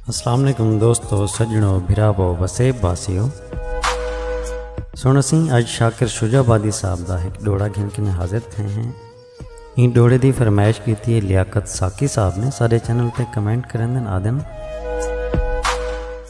السلام علیکم دوستو سجنو بھراو وسیب باسیو سن سی اج شاکر شجا بادی صاحب دا ایک ڈوڑا گھن کے حاضر تھے ہیں این ڈوڑے دی فرمائش کی تھی لیاقت ساکی صاحب نے سارے چینل تے کمنٹ کرن دن آدن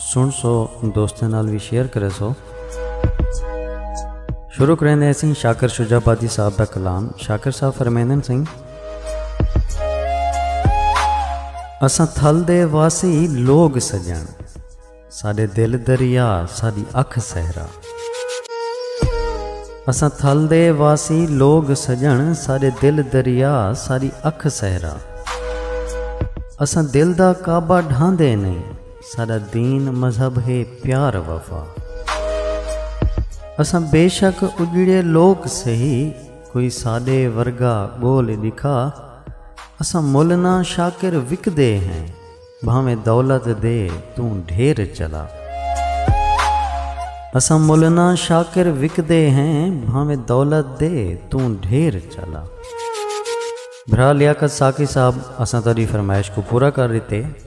سن سو دوستیں نال وی شیئر کرے سو شروع کریندے ہیں سنگھ شاکر شجا بادی صاحب دا کلام شاکر صاحب فرمیندن سنگھ اساں تھل دے واسی لوگ سجن ساڈے دل دریا ساڈی اکھ سہرا اساں تھل دے واسی لوگ سجن ساڈے دل دریا ساڈی اکھ سہرا اساں دل دا کعبہ ڈھاندے نہیں ساݙا دین مذہب ہے پیار وفا۔ اساں بیشک اڄڑے لوک سہی کوئی ساݙے ورگا ڳول ݙکھا۔ اساں مل نہ شاکر وکدے ہیں بھانویں دولت دے توں ڈھیر چلا۔ اساں مل نہ شاکر وکدے ہیں بھانویں دولت دے توں ڈھیر چلا۔ بھرا لیاقت ساقی صاحب اساں تہاݙی فرمائش کوں پورا کر ݙتے۔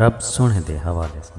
رب سوہݨے دے حوالے ساں۔